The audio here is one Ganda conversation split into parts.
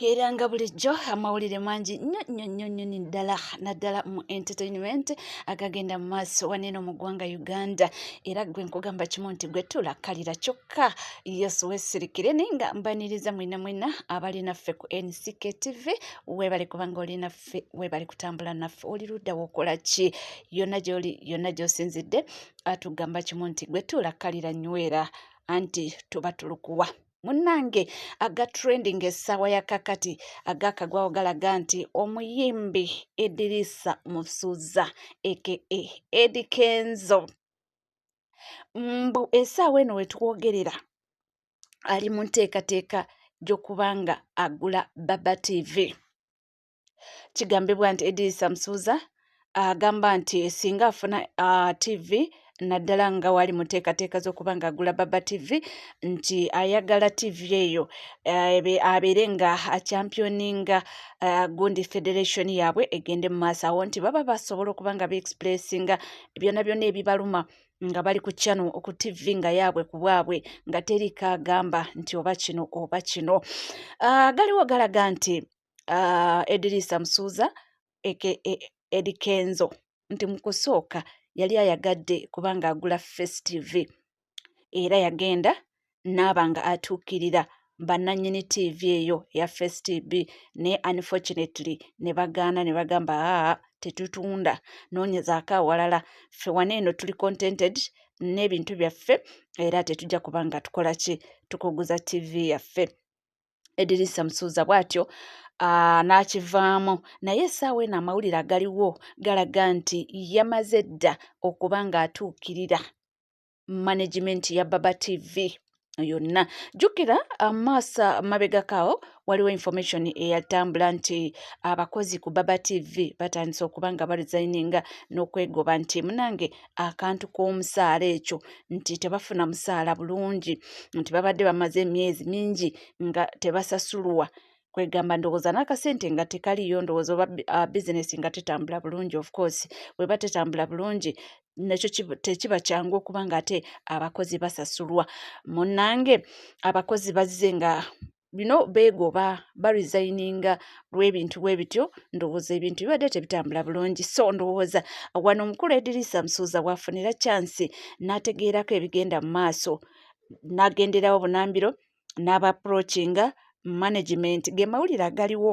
era nga bulijjo amawulire mangi nnyo nnyo nnyo nnyo ni ddala naddala mu entertainment agagenda mu maaso waneeno mu ggwanga uganda era gwe nkugamba kimu nti gwe tulakkalira kyokka yesu wesirikire naye nga mbaniriza mwena mwena abali naffe ku nck tv webale kubanga oli naffe webale kutambula naffe oli ludda wokola ki yonna gyoli yonna gyosinzidde atugamba kimu nti gwe tulakkalira nywera anti tuba tulukuwa munnange aga trending essaawa ya kakati agakagwawo galaga nti omuyimbi edirisa musuza aka edi kenzo mbu essaawa eno wetwogerera ali mu nteekateeka gy'okuba nga agula baba tv kigambibwa nti edirisa musuuza agamba nti singa afuna uh, tv naddala nga wali muteekateeka z'okuba nga agula baba tv nti ayagala tv eyo eh, abeere nga achampioninga eh, gundi federation yaabwe egende mu maaso awo nti baba basobola okuba nga beexpressinga byona byona ebibaluma nga bali ku channel ku tv nga yaabwe ku bwabwe nga teri kaagamba nti oba kino oba kino ah, galiwo galaga nti uh, edirisa musuuza eke e, edikenzo nti mu kusooka yali ayagadde kubanga agula face tv era yagenda naaba nga atuukirira bannanyini tv eyo eya face tv naye unfortunately ne bagaana ne bagamba aa tetutunda noonyezaako awalala ffe wana eno tuli contented n'ebintu byaffe era tetujja kuba nga tukola ki tukuguza ttivi yaffe edirisa musuuza bw'atyo Ah, n'akivaamu naye essaawa eno amawulire agaliwo galaga nti yamaze dda okuba ng'atuukirira management ya baba tv yonna jjukira amaasa ah, mabegakaawo waliwo information eyatambula nti abakozi ku baba tv batandise okuba nga barizayininga n'okwegoba nti munange akantu k'omusaala ekyo nti tebafuna musaala bulungi nti babadde bamaze emyezi mingi nga tebasasulwa kwegamba ndowooza n'akasente nga tekaliyo ndowooza oba ah, bizinesi nga tetambula bulungi of course weba tetambula bulungi nakyo tekiba kyangu okuba nga ate abakozi basasulwa munange abakozi bazze nga bino beegoba baresigninga lw'ebintu bwe bityo ndowooza ebintu bibadde tebitambula bulungi so ndowooza wano omukulu edirisa musuuza waafunira kyansi n'ategeerako ebigenda mu maaso n'agenderawo bunambiro n'aba approachinga management ge mawulire agaliwo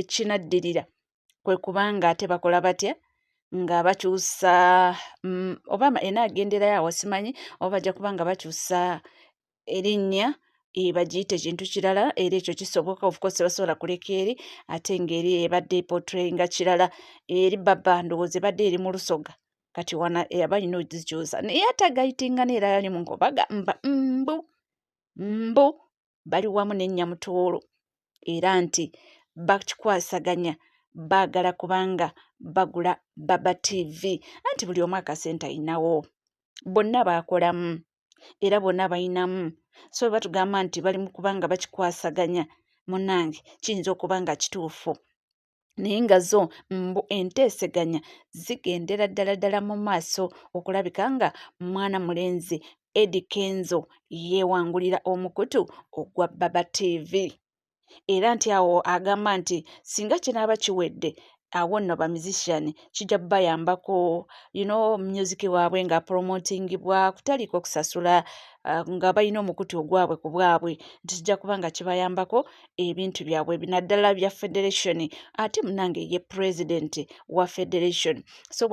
ekinaddirira kwe kuba nga ate bakola batya nga bakyusa mm, oba enaagenderayo awo simanyi oba bajja kuba nga bakyusa erinnya e, bagiyite ekintu kirala era ekyo kisoboka ofcourse basobola kuleka eri ate ngaeri ebadde epotrayinga kirala eri baba ndowooza ebadde eri mu lusoga kati wana eyaba yina ogikyusa naye atagayitinga neera yali munkobaga mba mbu mbu bali wamu ne Nyamutooro era nti bakikwasaganya baagala kubanga bagula Baba TV anti buli omu akasente ayinawo bonna baakolamu era bonna bayinamu so bwe batugamba nti bali mu kubanga bakikwasaganya munange kiyinza okuba nga kituufu naye nga zo mbu enteeseganya zigendera ddala ddala mu maaso okulabika nga mwana mulenzi edi kenzo yeewangulira omukutu ogwa baba tv era nti awo agamba nti singa kinaaba kiwedde awo nno ba musician kijja bayambako you know music waabwe nga promotingibwa kutaliiko kusasula uh, nga balina omukutu ogwabwe ku bwabwe nti kijja kuba nga kibayambako ebintu byabwe naddala bya federation ate munange ye president wa federation so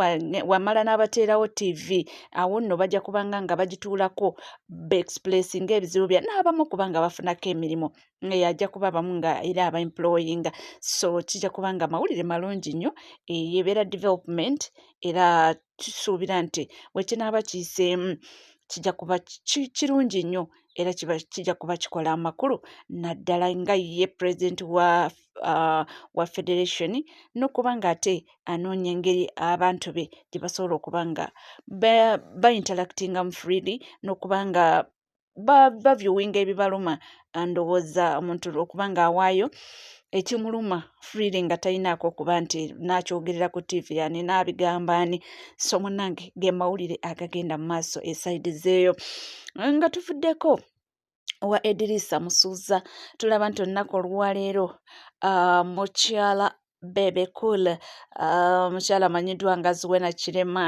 wamala n'abateerawo tv awo nno bajja kubanga nga bagituulako beexpress nga ebizibu bya n'abamu kubanga bafunako emirimu ajja kuba abamu nga era aba employinga so kijja kubanga amawulire malungi nnyo eyebeera development era kisuubira nti bwe kinaaba kiyiseemu kijja kuba kirungi nnyo era kijja kuba kikola amakulu naddala nga ye pulezidenti wa uh, wa federation nokuba nga ate anoonya engeri abantu be gye basobola okuba nga bainteractingamu freely nokuba nga bavyuwinga ebibaluma ndowooza omuntu okuba nga awaayo ekimuluma freely nga talinaako okuba nti nakyogerera ku tv ani nabigamba ani so munange ge mawulire agagenda mu maaso esaidi zeeyo nga tuvuddeko owa edirisa musuuza tulaba nti olunaku oluwaleero ah, mukyala bebe cool ah, mukyala amanyiddwa nga zuwena kirema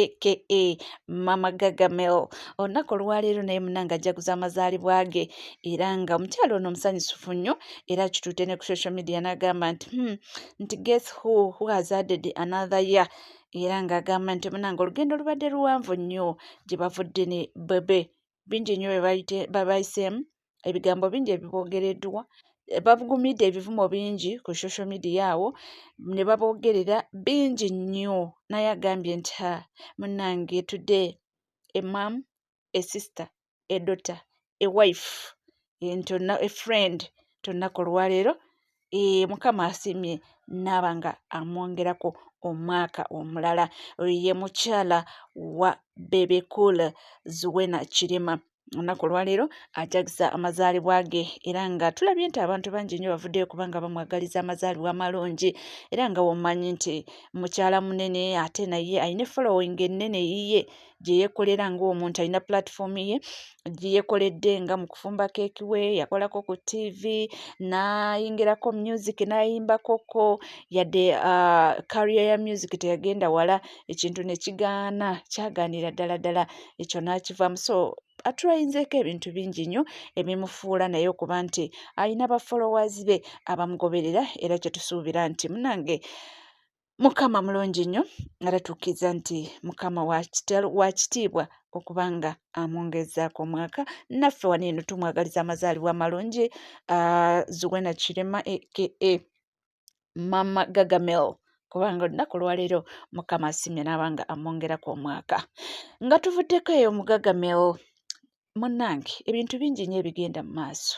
aka mama gagamel olunaku olwaleero naye munange ajaguza amazaalibwa ge era nga omukyalo ono omusanyusufu nnyo era kituute ne ku social media n'agamba nti hmm, nti guess who who has added another year era ng'agamba nti munange olugendo lubadde luwanvu nnyo gye bavudde ne bebe bingi nnyo bye bayiseemu ebigambo bingi ebiboogereddwa babugumidde ebivumo bingi ku social media awo ne baboogerera bingi nnyo naye agambye nti ha munnange today a mom a sister a daughter a wife a friend tolunaku olwaleero ee mukama asiimye naaba nga amwongerako omwaka omulala oyo ye mukyala wa bebecool zuwena kirima olunaku olwaleero ajagisa amazaalibwa ge era nga tulabye nti abantu bangi nnyo bavuddeyo kubanga bamwagaliza amazaalibwa amalungi era nga womanyi nti mukyala munene ate naye alina following ennene yiye gye yeekolera ng'omuntu alina platform ye gye yeekoledde nga mu kufumba keeki we yakolako ku tv n'ayingirako music n'ayimbakoko yadde uh, career ya music teyagenda wala ekintu ne kigaana kyagaanira ddala ddala ekyo n'akivaamu so atulayizeeko ebintu bingi nnyo ebimufuula naye okuba nti alina bafolowaazi be abamugoberera era kye tusuubira nti munange mukama mulungi nnyo nalatuukiriza nti mukama wakitiibwa okuba nga amwongezaako omwaka naffe wano eno tumwagaliza amazaalibwa amalungi ah, zuwena kirema aka mama gagamel kubanga olunaku lwaleero mukama asimye naaba nga amwongeraku omwaka nga tuvuddeko eyo mugagamel munnange ebintu bingi nnyo ebigenda mu maaso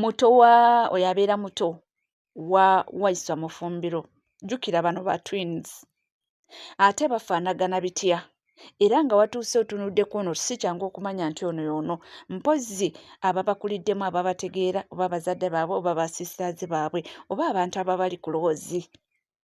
muto wa oyo abeera muto wa waiswa mufumbiro jjukira bano ba twins ate bafaanagana bitya era nga watuuse otunuddeko ono si kyangu okumanya nti ono yoono mpozzi ababakuliddemu ababategeera oba bazadde baabwe oba basistaazi baabwe oba abantu ababali kuloozi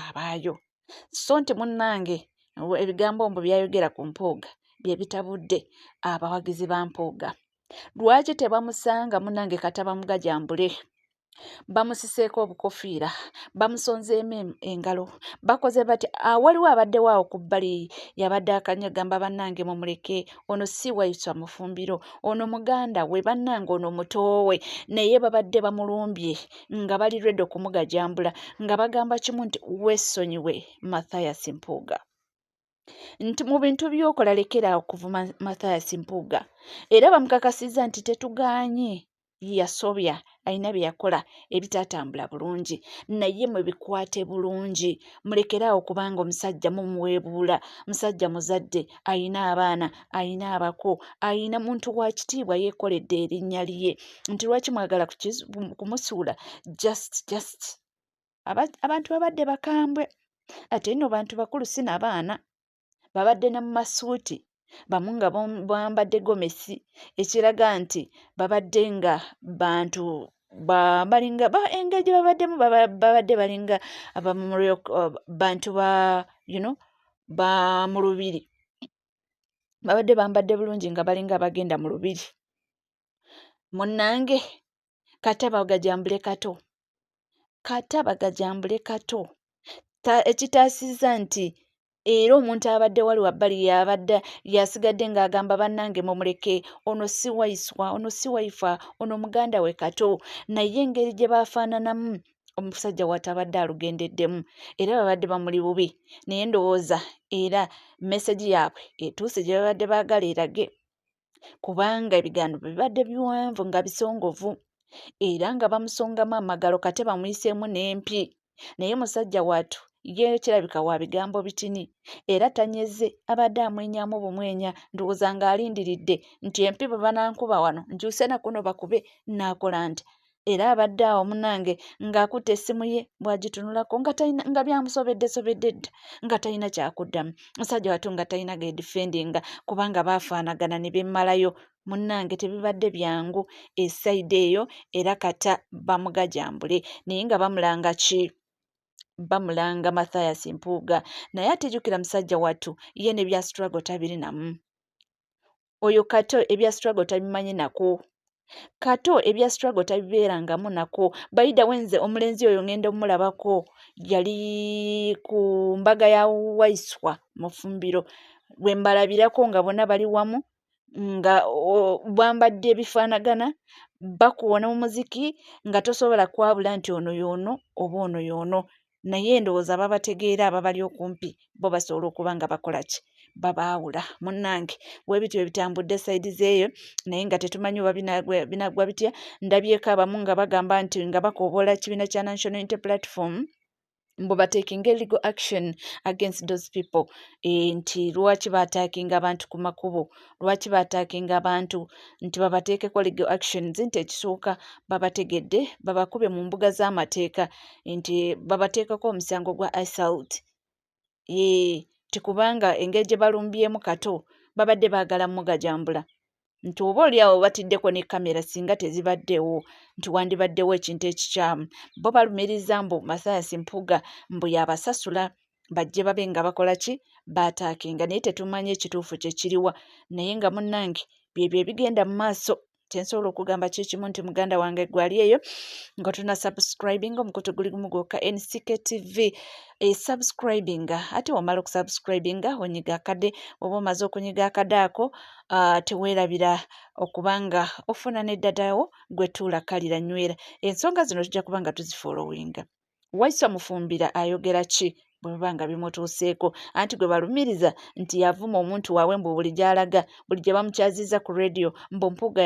abaayo so nti munnange ebigambo mbu byayogera ku mpuuga bye bitabudde abawagizi ba mpuuga lwaki tebamusanga munnange kataba mugajambule bamusiseeko obukofiira bamusonzeemu engalo bakoze bati awaliwo ah, abaddewo awo ku bbali yabadde akanya gamba bannange mumuleke ono si waiswa mufumbiro ono muganda we bannange ono mutoowe naye babadde bamulumbye nga bali redo kumugajambula nga bagamba kimu nti wesonyiwe mathias mpuuga nti mu bintu byokola lekera okuvuma mathias mpuuga era bamukakasiza nti tetuganye yasobya alina byeyakola ebitatambula bulungi naye mwebikwate bulungi mulekeraawo kubanga omusajja mumuweebuula musajja muzadde alina abaana alina abako alina muntu wa kitiibwa yeekoledde erinnya lye nti lwaki mwagala kumusuula just just abantu babadde bakambwe ate nno bantu bakulu si na baana babadde ne mu masuuti bamu nga bambadde gomesi ekiraga nti babadde nga bantu balinga engeri gye babaddemu babadde balinga abamurbantu ba you know ba mu lubiri babadde bambadde bulungi nga balinga abagenda mu lubiri munnange kata bagajambule kato kata bagajambule kato ekitaasizza nti era omuntu abadde wali wabbali yabadde yasigadde ng'agamba bannange mumuleke ono si waiswa ono si waifa ono muganda we kato naye engeri gye baafaananamu omusajja watabadde alugendeddemu era babadde bamuli bubi naye ndowooza era mesegi yaabwe etuuse gye babadde baagala erage kubanga ebigaano bibadde biwanvu nga bisongovu era nga bamusongamu amagalo kate bamuyiseemu n'empi naye musajja watu ye kirabika wa bigambo bitini era tanyeze abadde amwenyamu bumwenya ndowooza ng'alindiridde nti empi bwe banankuba wano nkyuse nakuno bakube naakola nti era abadde awo munange ng'akutte essimu ye bw'agitunulako nga talina nga byamusobedde sobedde dda nga talina kyakuddamu musajja watu nga talina gedifendinga kubanga baafaanagana ne bemmalayo munnange tebibadde byangu esayidi eyo era kata bamugajambule naye nga bamulanga ki bamulanga mathias mpuuga naye atejukira musajja watu ye ne bya struggle tabirinamu oyo kato ebya struggle tabimanyi nako kato ebya struggle tabibeerangamu nako bayida wenze omulenzi oyo ngenda omulabako yali ku mbaga ya waiswa mufumbiro bwembalabirako nga bona bali wamu nga bwambadde ebifaanagana bakuwona omuziki nga tosobola kwabula nti ono yoono oba ono yoono naye ndowooza ababategeera ababali okumpi bo basobola okuba nga bakola ki babaawula munnange webityo ebitambudde sayidi zeeyo naye nga tetumanyi oba binaggwa bitya ndabyeko abamu nga bagamba nti nga bakoobola ekibiina kya national inter platform mbu batekinga legal action against those people e, nti lwaki batakinga abantu ku makubo lwaki baataakinga abantu nti babateekeko legal actions nti ekisooka babategedde babakube mu mbuga z'amateeka nti babateekako omusango gwa assault yee tikubanga engeri gye balumbyemu kato babadde baagala mugajambula nti oba oli awo batiddeko ne kamera singa tezibaddewo nti wandibaddewo ekintu ekikyamu bo balumiriza mbu masaasi mpuga mbu yabasasula bajje babe nga bakola ki baataakinga naye tetumanyi ekituufu kye kiriwa naye nga munnange byebyo ebigenda mu maaso kyensobola okugamba kyekimu nti muganda wange gwali eyo nga tuna subscribing omukutu guli gumu gwokka nck tv esubscribing ate wamala okusubscribing onyiga akade oba omaze okunyiga akade ako ah, teweerabira okubanga ofuna neddadawo gwetuula kalira nywera ensonga zino tujja kubanga tuzifoolowinga waisa mufumbira ayogera ki bwe biba nga bimutuuseeko anti gwe balumiriza nti yavuma omuntu waabwe mbu buli gy'alaga buli gye bamukyaziza ku radio mbu mpuuga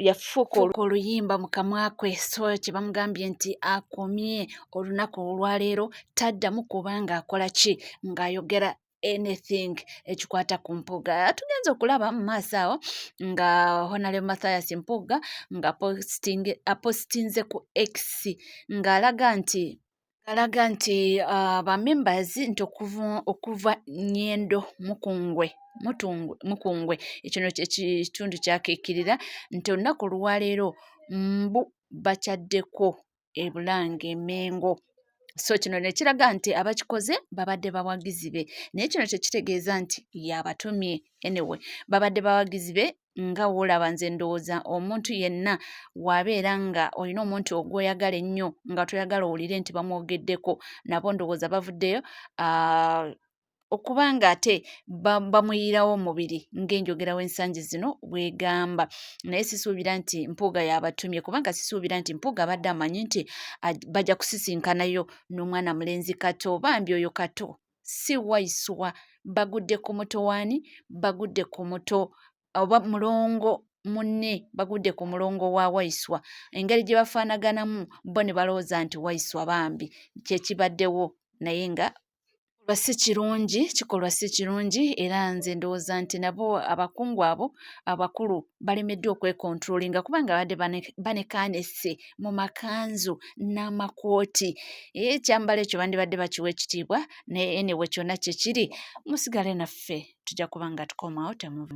yafuuka oluyimba mu kamwa kwe so kye bamugambye nti akomye olunaku olwaleero taddamu kuba ng'akola ki ng'ayogera anything ekikwata ku mpuga tugenza okulaba mu maaso awo nga honale mathias mpuga nga apositinze ku x ng'alaga nti alaga nti uh, ba members nti okuva, okuva nyendo mukungwe mukungwe ekino kyekitundu kyakikirira nti olunaku olwaleero mbu bakyaddeko e Bulange e Mmengo. So kino ne kiraga nti abakikoze babadde bawagizi be naye kino tekitegeeza nti yabatumye anyway babadde bawagizi be nga woolaba nze ndowooza omuntu yenna waabeera nga olina omuntu ogwoyagala ennyo nga toyagala owulire nti bamwogeddeko nabo ndowooza bavuddeyo uh, okuba nga ate bamuyiirawo omubiri ng'enjogera w'ensangi zino bwegamba naye sisuubira nti mpuuga yabatumye kubanga sisuubira nti mpuuga abadde amanyi nti bajja kusisinkanayo n'omwana mulenzi kato bambi oyo kato si waiswa bagudde ku muto waani bagudde ku muto oba mulongo munne bagudde ku mulongo wa waiswa engeri gye bafaanaganamu bo ne balowooza nti waiswa bambi kyekibaddewo naye nga lwa si kirungi kikolwa si kirungi era nze ndowooza nti nabo abakungu abo abakulu balemeddwa okwekontrolinga kubanga abadde banekanese mu makanzu n'amakooti eh, ekyambalo ekyo bandibadde bakiwa ekitiibwa naye enewe kyonna kyekiri musigale naffe tujja kuba nga tukomawo temuva